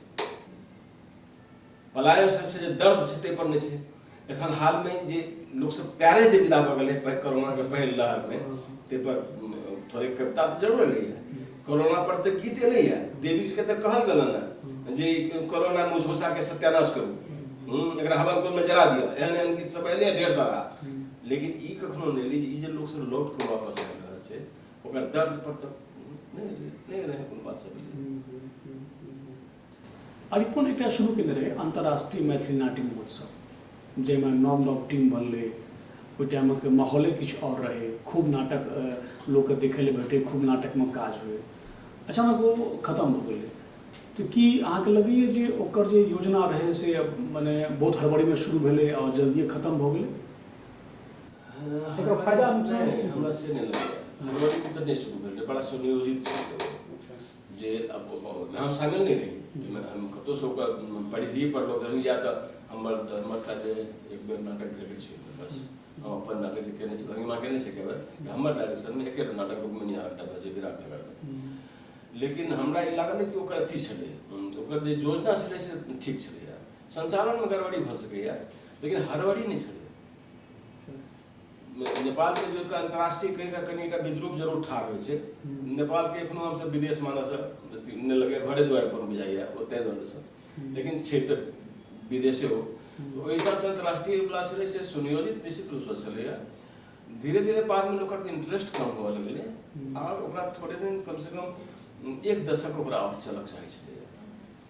पलायन से छै जे दर्द छै ताहि पर नहि छै एखन हाल में जे लोक सब प्यारे से विदा भऽ गेलै कोरोना के पहिल लहर में ते पर थोड़े कविता तऽ जरूर एलै है कोरोना पर तऽ गीत एलै है देवी के तऽ कहल गेलन है जे कोरोना में मुसमुसा के सत्यानाश करू एकरा हवन कुंड में जरा दिअ एहन एहन गीत सब एलै ढेर सारा लेकिन ई कखनो नहि एलै जे ई जे लोक सब लौट कऽ वापस आबि रहल छै ओकर दर्द पर तऽ नहि एलै नहि एलै कोनो बात सब एलै अरिपन एकटा शुरू केने रहै अन्तर्राष्ट्रीय मैथिली नाट्य महोत्सव जाहिमे नव नव टीम बनलै ओहि टाइमक माहौले किछु आओर रहै खूब नाटक लोककेँ देखै लए भेटै खूब नाटकमे काज होइ अचानक ओ खतम भऽ गेलै तऽ की अहाँके लगैए जे ओकर जे योजना रहै से मने बहुत हड़बड़ीमे शुरू भेलै आओर जल्दिए खतम भऽ गेलै फायदा हमरा से नहि लगैए हड़बड़ीमे तऽ नहि शुरू भेलै बड़ा सुनियोजित छै जे अब नाम सामने नहीं रही हम कतो सो का परिधि पर लोग रही या तो हमर हमर था जे एक बेर नाटक भेल छै बस हम अपन नाटक जे केने छी भंगिमा केने छै केवल हमर डायरेक्शन में एके नाटक रूप में निहार टा बजे विराट नगर में लेकिन हमरा ई लागल कि ओकर अथी छलै ओकर जे योजना छलै से ठीक छलै संचालन में गड़बड़ी भऽ सकैए लेकिन हड़बड़ी नहि छलै नेपालके जे एकटा अन्तर्राष्ट्रीय कहिके कनि एकटा विद्रूप जरूर ठाढ़ होइ छै नेपालके एखनो हमसब विदेश मानैसँ नहि लगैए घरे दुआरि अपन बुझाइए ओतहि रहैसँ लेकिन छै तऽ विदेशे ओ ओहि हिसाबसँ अन्तर्राष्ट्रीय बला छलै से सुनियोजित निश्चित रूपसँ छलैए धीरे धीरे बादमे लोकक इंटरेस्ट कम हुअ लगलै आओर ओकरा थोड़े दिन कमसँ कम एक दशक ओकरा आओर चलक चाही छलैए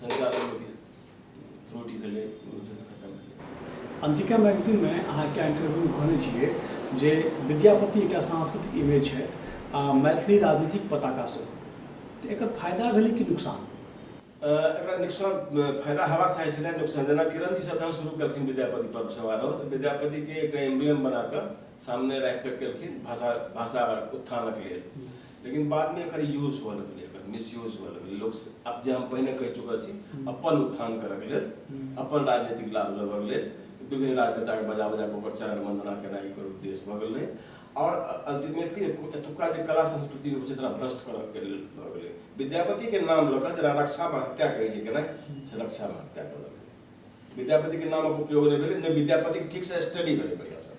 संचालनमे किछु त्रुटि भेलै युद्ध खतम भेलै अंतिका मैगजीनमे अहाँ एकटा इंटरव्यू कहने छियै जे विद्यापति एकटा सांस्कृतिक इमेज छथि आ मैथिली राजनीतिक पताका सेहो एकर फायदा भेलै कि नुकसान एकरा नुकसान फायदा हेबाक चाही छलै नुकसान जेना किरण जी सब जहन शुरू केलखिन विद्यापति पर्व समारोह तऽ विद्यापतिके एकटा एम्बलम बना कऽ सामने राखि कऽ केलखिन भाषा भाषा उत्थानक लेल लेकिन बाद में एक यूज हुआ लगल एक मिसयूज हुआ लगल लोग अब जे हम पहले कह चुका छी हम्म। अपन उत्थान कर के लेल हम्म। अपन राजनीतिक लाभ लेबऽ के लेल तो विभिन्न राजनेता के बजा बजा के ओकर चरण वंदना केना एकर उद्देश्य भऽ गेल और अल्टीमेटली एतुका जे कला संस्कृति रूप से तोरा भ्रष्ट करऽ के लेल भऽ गेलै विद्यापति के नाम लऽ कऽ जरा रक्षा में हत्या कहै छै केना से रक्षा में हत्या कऽ विद्यापति के नामक उपयोग नहि भेलै नहि विद्यापति ठीक से स्टडी भेलै बढ़िया से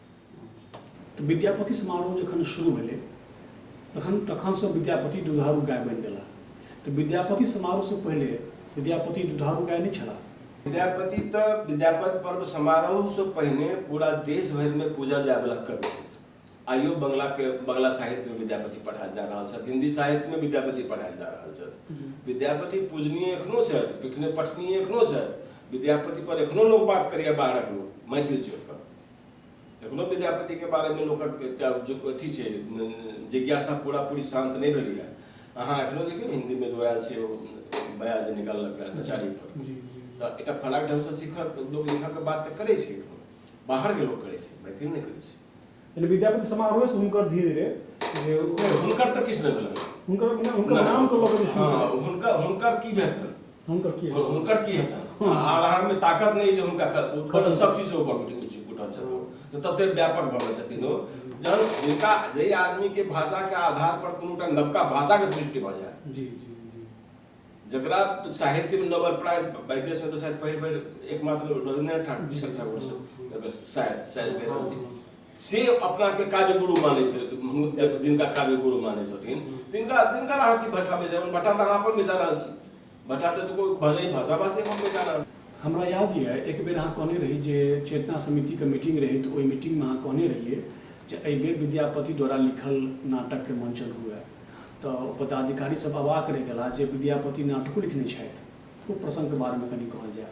विद्यापति समारोह जखन शुरू भेलै तखन तखनसँ विद्यापति दुधारू गाय बनि गेला तऽ विद्यापति समारोहसँ पहिले विद्यापति दुधारू गाय नहि छला विद्यापति तऽ विद्यापति पर्व समारोहसँ पहिने पूरा देश भरिमे पूजल जायवला कवि छथि आइयो बंगलाके बंगला साहित्यमे विद्यापति पढ़ायल जा रहल छथि हिन्दी साहित्यमे विद्यापति पढ़ायल जा रहल छथि हम्म। विद्यापति पूजनीय एखनो छथि पिखने पठनीय एखनो छथि विद्यापति पर एखनो लोक बात करैया बाहरक लोक मैथिल चोर एखनो विद्यापति के बारे में लोग अथी छै जिज्ञासा पूरा पूरी शांत नहीं भेल है अहाँ एखनो देखियौ हिंदी में जो आयल छै बया जे निकाललक है नचारी पर तऽ एकटा फलाक ढंग से सीखक लोग लिखक के बात तऽ करै छै बाहर के लोग करै छै मैथिल नहि करै छै विद्यापति समारोह से हुनकर धीरे धीरे हुनकर तऽ किछु नहि भेल हुनकर हुनकर नाम के लऽ कऽ हुनकर हुनकर की भेल हुनकर की और हुनकर की हेतै आर आर में ताकत नहीं जे हुनका ख- ऊपर सब चीज से ऊपर उठि उठि उठल छथिन ओ। तऽ तते व्यापक भऽ गेल छथिन ओ जहन हुनका जे आदमी के भाषा के आधार पर कोनो टा नवका भाषा के सृष्टि भऽ जाय जी जी जी जकरा साहित्य में नोबेल प्राइज विदेश में तो शायद पहिल बेर एकमात्र रविन्द्रनाथ ठाकुर जी ठाकुर से शायद शायद भेल रहल छै से अपनाके काव्य गुरु मानै छथि जिनका काव्य गुरु मानै छथिन तिनका तिनकर अहाँ की भट्ठा बेचै भट्ठा तऽ अहाँ अपन बेचा रहल छी भट्ठा तऽ कोइ भले भाषा भाषी हम बेचा रहल हमरा याद यऽ एक बेर अहाँ कहने रही जे चेतना समितिके मीटिंग रही तऽ ओहि मीटिंगमे अहाँ कहने रहियै जे एहि बेर विद्यापति द्वारा लिखल नाटकके मंचन हुए तऽ पदाधिकारी सब अवाक रहि गेला जे विद्यापति नाटको लिखने छथि ओ प्रसङ्गके बारेमे कनि कहल जाय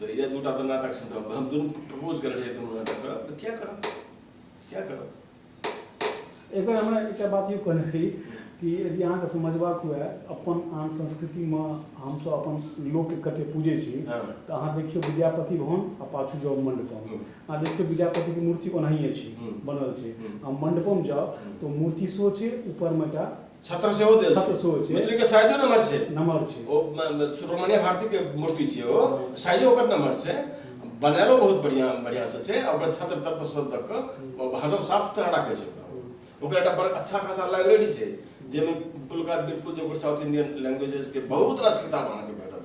तऽ इएह दूटा तऽ नाटक छै तऽ हम दुनू प्रपोज करल रहियै दुनू नाटक करब तऽ क्या करब क्या करब एकर हमरा एकटा बात यौ कहने रही कि यदि अहाँके समझबाक हुए अपन आन संस्कृतिमे हमसभ अपन लोकके कते पूजै छी हँ। तऽ अहाँ देखियौ विद्यापति भवन आ पाछू जाउ मण्डपम हूँ। अहाँ देखियौ विद्यापतिके मूर्ति ओनाहिए छी हूँ। बनल छै हूँ। आ मण्डपम जाउ तऽ ओ मूर्ति सेहो छै ऊपरमे एकटा छत्र सेहो देल छत्र छै सेहो छै। मित्र के साइजो नमहर छै नमहर छै ओ म- म- सुब्रमण्य भारती के मूर्ति छै ओ साइजो ओकर नमहर छै बनायलो बहुत बढ़िया बढ़िया से छै आ ओकर छत्र तत्र सब दऽ कऽ ओ हरदम साफ सुथरा राखै छै ओकरा ओकर एकटा बड़ अच्छा खासा लाइब्रेरी छै जाहिमे बिल्कुल बिल्कुल जे ओकर साउथ इंडियन लैंग्वेजेस के बहुत रास किताब अहाँके भेटत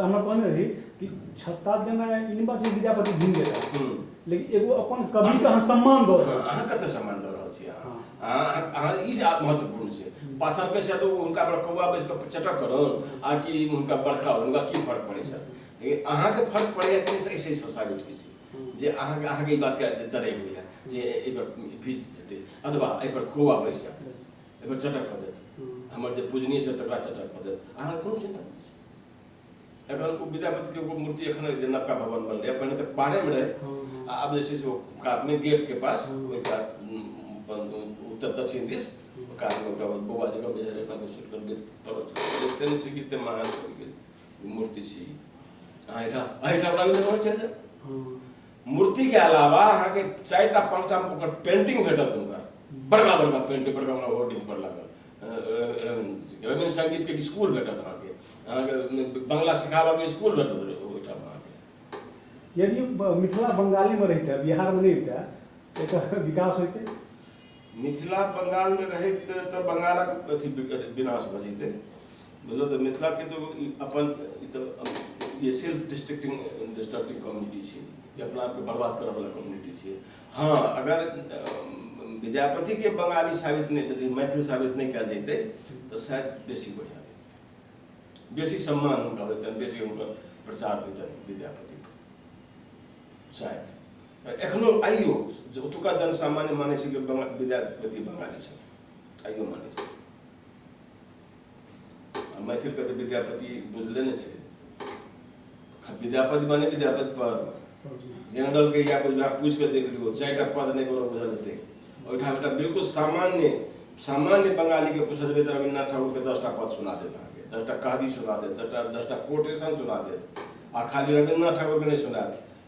हमरा कहने रही कि छत्ता देना इन बात विद्यापति भूल गए हम्म। लेकिन एगो अपन कवि का सम्मान दऽ रहल छी कते सम्मान दऽ रहल छी अहाँ ई जे महत्वपूर्ण छै पाथर के से तो उनका पर कौआ बैस के चटक करो आ कि उनका बरखा हो उनका की फर्क पड़े छै लेकिन अहाँ के फर्क पड़े कि से ऐसे साबित होइ छै हम्म। जे अहाँ के अहाँ के ई बात के दरे होइया जे एहि पर भीज देते अथवा एहि पर कौआ बैस जाते एहिपर चटक कऽ देत हमर जे पूजनीय छै तकरा चटक कऽ देत अहाँ कोनो चिन्ता नहि छै। एखन ओ विद्यापतिके एगो मूर्ति एखन जे नवका भवन बनलै पहिने तऽ पाड़ेमे रहै आ आब जे छै से ओ कातमे गेटके पास ओहि कात उम, अपन उत्तर दक्षिण दिस ओ कातमे एकटा ओ बौआ जगह बुझाइ रहै ओकरा सुटि कऽ देख पड़ल छै देखते नहि छै कि एतेक महान कविके ई मूर्ति छी अहाँ एहिठाम अहाँ एहिठाम राघवेन्द्र भवन चलि जाउ मूर्ति के अलावा अहाँ के चार टा पांच टा ओकर पेंटिंग भेटत हुनकर बड़का बड़का पेंटिंग बड़का बड़का होर्डिंग पर लागल रविंद्र संगीत के स्कूल भेटत अहाँ के अहाँ के बंगला सिखाबा के स्कूल भेटत ओहिठाम अहाँ के यदि मिथिला बंगाले में रहते बिहार में नहीं रहते एक विकास होते मिथिला बंगाल में रहैत तऽ बंगालक अथी विनाश भऽ जैतै बुझलहुँ तऽ मिथिलाके तऽ अपन ई तऽ ई सेल्फ डिस्ट्रक्टिंग डिस्ट्रक्टिंग कम्युनिटी छै ई अपना आपके बर्बाद करऽवला कम्युनिटी छै हँ अगर विद्यापतिके बंगाली साबित नहि यदि मैथिल साबित नहि कयल जैतै तऽ शायद बेसी बढ़िआँ रहतै बेसी सम्मान हुनका होइतनि बेसी हुनकर प्रचार होइतनि विद्यापतिके शायद एखनो आइयो जे ओतुका जनसामान्य मानै छै कि विद्यापति बंगाली छथि आइयो मानै छै मैथिलके तऽ विद्यापति बुझले नहि छै विद्यापति माने विद्यापति पर जनरलके या कोइ विभाग पूछि कऽ देख लियौ चारिटा पद नहि कोनो बुझल हेतै ओहिठाम एकटा बिल्कुल सामान्य सामान्य बंगालीके पूछल जेबै तऽ रविन्द्रनाथ ठाकुरके दसटा पद सुना देत अहाँके दसटा कहबी सुना देत दसटा दसटा कोटेशन सुना देत आ खाली रविन्द्रनाथ ठाकुरके नहि सुनायत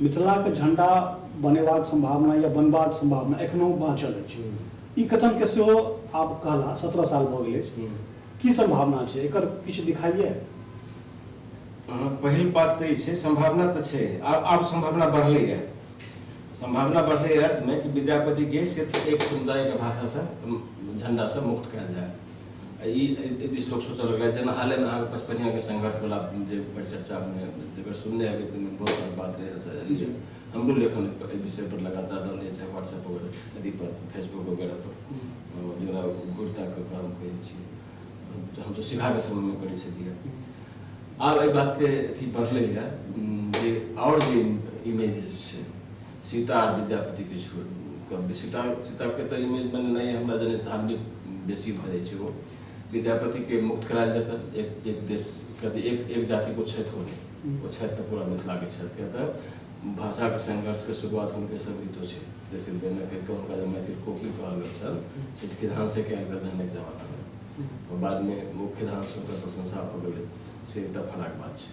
मिथिलाक झंडा बनेबाक संभावना या बनबाक संभावना एखनो बाँचल अछि ई कथन के सेहो आब कहला सत्रह साल भऽ गेल अछि की संभावना छै एकर किछु दिखाइए पहिल बात तऽ ई छै सम्भावना तऽ छै आब आब सम्भावना बढ़लैए सम्भावना बढ़लै अर्थमे कि विद्यापतिके सिर्फ एक समुदायके भाषासँ झण्डासँ मुक्त कयल जाय ई बीच लोग सोचऽ लगला जेना हाले में अहाँके पचपनिया के संघर्ष वाला जे परिचर्चा में जकर सुनने हेबै तऽ बहुत सारा बात रहै हमरो लेखन एहि विषय पर लगातार रहलै चाहे व्हाट्सएप वगैरह अथी पर फेसबुक वगैरह पर जकरा गुरता कऽ कऽ हम कहै छी तऽ हम तऽ सिखा के समय में करै छलियै आब एहि बात के अथी बढ़लै है जे आओर जे इमेजेस छै सीता आ विद्यापति के छोड़ि कऽ सीता सीता के तऽ इमेज बनेनाइ हमरा जने धार्मिक बेसी भऽ जाइ छै ओ विद्यापति के मुक्त करायल जेतै एक एक देश किया तऽ एक एक जाति को छथि ओ नहि ओ छथि तऽ पूरा मिथिला के छथि किया तऽ भाषा के संघर्ष के शुरुआत हुनके सब गीतो छै जैसे बेना कहि कऽ हुनका जे मैथिल कोकिल कहल गेल छल से खिधान से कयल गेल रहनि एक जमाना मे बाद मे ओ खिधान से ओकर प्रशंसा भऽ गेलै से एकटा फराक बात छै